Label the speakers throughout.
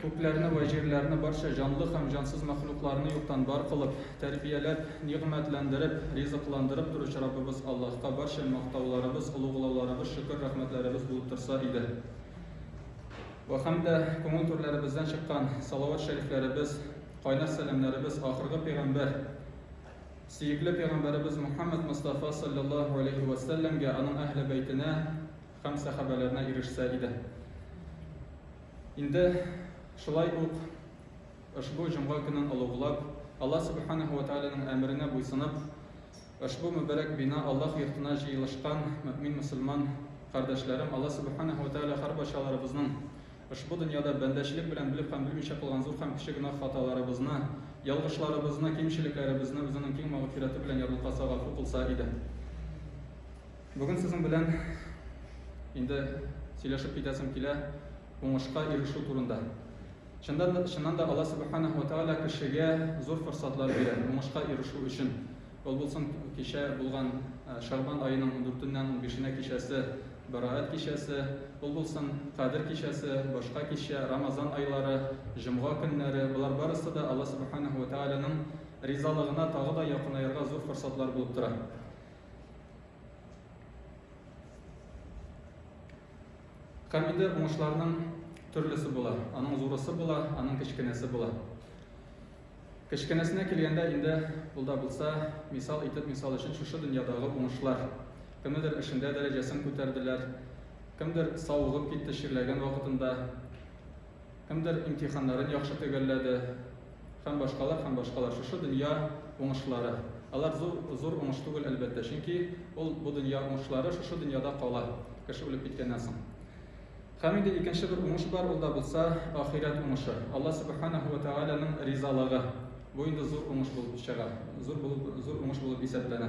Speaker 1: Күкләрне вә җирләрне, барча җанлы һәм җансыз мәхлукларны юктан бар кылып, тәрбияләп, нигъмәтләндереп, ризыкландырып торучы Раббыбыз Аллаһка барча мактауларыбыз, олуглауларыбыз, шөкер-рәхмәтләребез булып торса иде. Вә һәм дә күңел түрләребездән чыккан салават-шәрифләребез, кайнар сәламнәребез ахыргы пәйгамбәр, сөекле пәйгамбәребез Мөхәммәд Мостафа салләллаһу галәйһи вә сәлләмгә, аның әһле бәйтенә, Һәм сәхабәләренә ирешсә иде. Инде шулай ук ошбу җомга көнен олуглап, Алла Сүбхәнәһү вә Тәгаләнең әмеренә буйсынып, ошбу мөбарәк бина Аллаһ йортына җыелышкан мөэмин-мөселман кардәшләрем, Алла Сүбхәнәһү вә Тәгалә һәрбайчаларыбызның ошбу дөньяда бәндәчелек белән белеп һәм белмичә кылган зур һәм кече гөнаһ хаталарыбызны, ялгышларыбызны, кимчелекләребезне үзенең киң мәгъфирәте белән ярлыкаса, гафу кылса иде. Бүген сезнең белән инде сөйләшеп китәсем килә уңышка ирешү турында. Чыннан да, чыннан да Алла Субханаһу ва Тааля кешегә зур форсатлар бирә уңышка ирешү өчен. Ул булсын кичә булган э, Шәгъбан аеның 4-ннән 15-нә кичәсе, Бараат кичәсе, ул булсын Кадер кичәсе, башка кичә, Рамазан айлары, җомга көннәре, болар барысы да Алла Субханаһу ва Тааляның ризалыгына тагы да якынаерга зур форсатлар булып тора. Камиде уңышларының төрлесе була. Аның зурысы була, аның кечкенәсе була. Кечкенәсенә килгәндә инде ул да булса, мисал итеп, мисал өчен шушы дөньядагы уңышлар. Кемнедер эшендә дәрәҗәсен күтәрделәр, кемдер савыгып китте чирләгән вакытында, Кемдер имтиханнарын яхшы төгәлләде. Һәм башкалар, һәм башкалар. Шушы дөнья уңышлары. Алар зур, зур уңыш түгел, әлбәттә. Чөнки ул, бу дөнья уңышлары шушы дөньяда кала, кеше үлеп киткәннән соң. Һәм инде икенче бер уңыш бар, ул да булса ахирәт уңышы. Алла Субханаху ва Тәгаләнең ризалыгы. Бу инде зур уңыш булып чыга, зур булып, зур уңыш булып исәпләнә.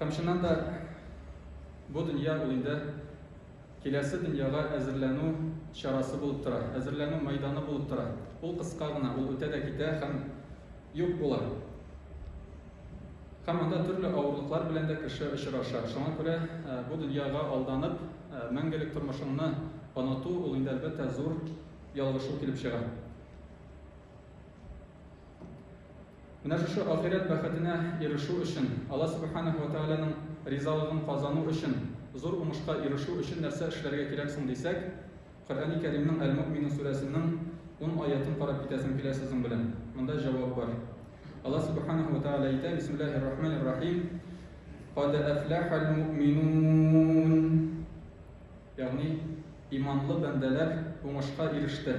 Speaker 1: Һәм чыннан да бу дөнья ул инде киләсе дөньяга әзерләнү чарасы булып тора, әзерләнү мәйданы булып тора. Ул кыска гына, ул үтә дә китә һәм юк була. Һәм анда төрле авырлыклар белән дә кеше очраша. Шуңа күрә э, бу дөньяга алданып, э, мәңгелек тормышыңны оныту ул инде әлбәттә зур ялгышу килеп чыга. Менә шушы ахирәт бәхетенә ирешү өчен, Алла Сүбхәнәһү вә Тәгаләнең ризалыгын казану өчен, зур уңышка ирешү өчен нәрсә эшләргә кирәк соң дисәк, Коръәни Кәримнең Әл-Мөэминун сүрәсенең ун аятен карап китәсем килә сезнең белән. Монда җавап бар. Алла Сүбхәнәһү вә Тәгалә әйтә, Бисмиллаһир-Рахманир-Рахим, Кад әфләхәл мөэминун. Ягъни, иманлы бәндәләр уңышка иреште.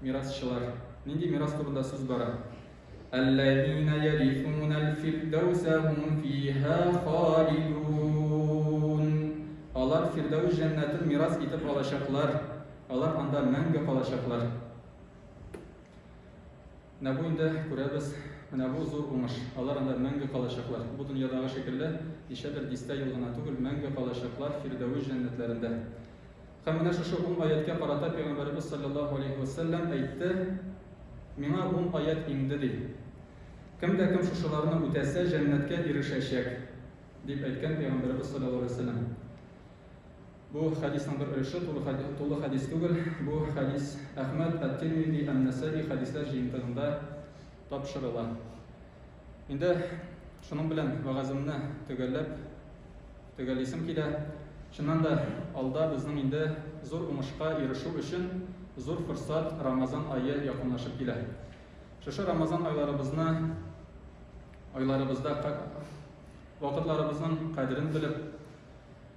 Speaker 1: Мирасчылар. Нинди мирас турында сүз бара? Әлләзина ярифунәл фирдәүсә һум фиһа халидун. Алар Фирдәүс җәннәтен мирас итеп алачаклар. Алар анда мәңге калачаклар. Менә бу инде күрәбез, менә бу зур уңыш. Алар анда мәңге калачаклар. Бу дөньядагы шикелле, ничәдер дистә ел гына түгел, мәңге калачаклар Фирдәвес җәннәтләрендә. Һәм менә шушы ун аятькә карата Пәйгамбәребез салләллаһу алейһи вә сәлләм әйтте, Миңа ун аять иңде, ди. Кем дә кем шушыларны үтәсә, җәннәткә ирешәчәк, дип әйткән Пәйгамбәребез салләллаһу алейһи вә сәлләм. Бу хәдисның бер өлеше, тулы хәдис, тулы хәдис түгел. Бу хәдис Әхмәд, Ат-Тирмизи, Ан-Насаи хәдисләр җыентыгында тапшырыла. Инде шуның белән вәгаземне төгәлләп төгәлисем килә. Чыннан да, алда безнең инде зур уңышка ирешү өчен зур форсат Рамазан ае якынлашып килә. Шушы Рамазан айларыбызны айларыбызда вакытларыбызның кадерен белеп,